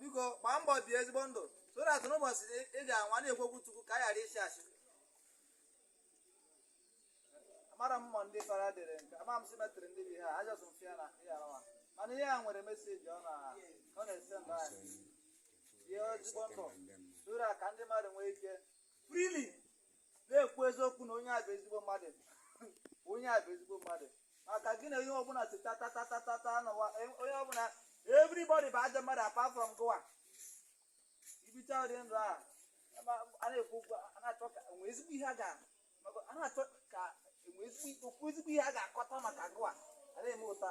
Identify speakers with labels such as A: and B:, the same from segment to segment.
A: biko gbaa mbọ bie ezigbo ndụ so that n'ụbọchị ị ga-anwụ a na-ekwu okwu chukwu ka a ghara ịsị asị amara mmụọ ndị fada dere nke ama m simetrị ndị bi ha ajọs mfe ya na ihe arawa mana ihe a nwere message ọ na- ọ na-esend anyị bie ezigbo ndụ so that ka ndị mmadụ nwee ike freely na-ekwu eziokwu na onye a bụ ezigbo mmadụ onye a bụ ezigbo mmadụ maka gị na onye ọbụla si tatatatata n'ụwa e- onye ọbụla everybody bụ ajọ mmadụ apart from gụwa i bichaa ụdị ndụ a ma- a na-ekwu okwu a na-achọ ka e nwee ezigbo ihe a ga maka a na-achọ ka e nwee ezigbo okwu ezigbo ihe a ga-akọta maka gụwa a na-eme ụta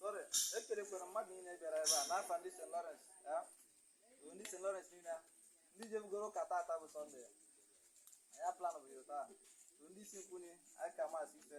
A: Sorry, ekelekwara mmadụ niile bịara ebe a n'afa ndị St. Lawrence ya bụ ndị St. Lawrence niile a. ndị jebugoro ụka tata bụ Sọnde ya anyị plan bụ ya taa bụ ndị isi nkwunye aka maasị ife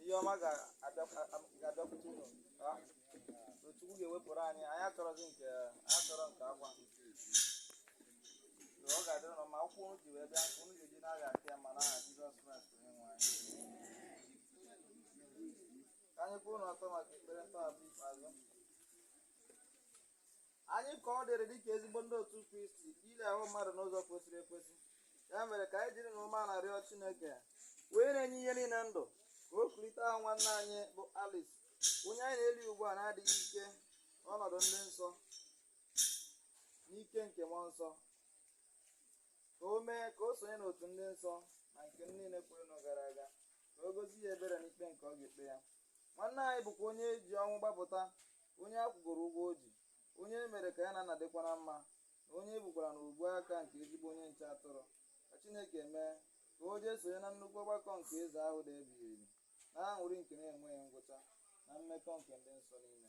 A: ihe ọma ga-abịakwute unu Chukwu ga-ewepụrụ anyị anyị achọrọzi nke anyị achọrọ nke akwa ọ ga-adịrị unu mma ụkwụ unu ji wee bịa unu ga-eji na-agha aka ya ma n'aha Jizọs Kraịst onye nwe anyị ka anyị kwụrụ n'ọtọ maka ekpere ntọhapụ ikpeazụ Anyị ka ọ dịrị dịka ezigbo ndị otu Kristi ili ahụ mmadụ n'ụzọ kwesịrị ekwesị. Ya mere ka anyị jiri na umeala rịọ Chineke onye na-enye ihe niile ndụ ka o kulite ahụ nwanne anyị bụ Alice onye anyị na-eli ugbu a n'adịghị ike n'ọnọdụ ndị nsọ n'ike nke mmụọ nsọ ka o mee ka o sonye n'otu ndị nsọ na nke niile kwerenụ gara aga ka o gosi ya ebere n'ikpe nke ọ ga-ekpe ya nwanne anyị bụkwa onye e ji ọnwụ gbapụta onye a kwụgoro ụgwọ o ji onye e mere ka ya na nna dịkwa na mma na onye e bukwara na ubu aka nke ezigbo onye nche atụrụ ka chineke mee ka o jee sonye na nnukwu ọgbakọ nke eze ahụ dị ebighị ebi na aṅụrị nke na-enweghị ngwụcha na mmekọ nke ndị nsọ niile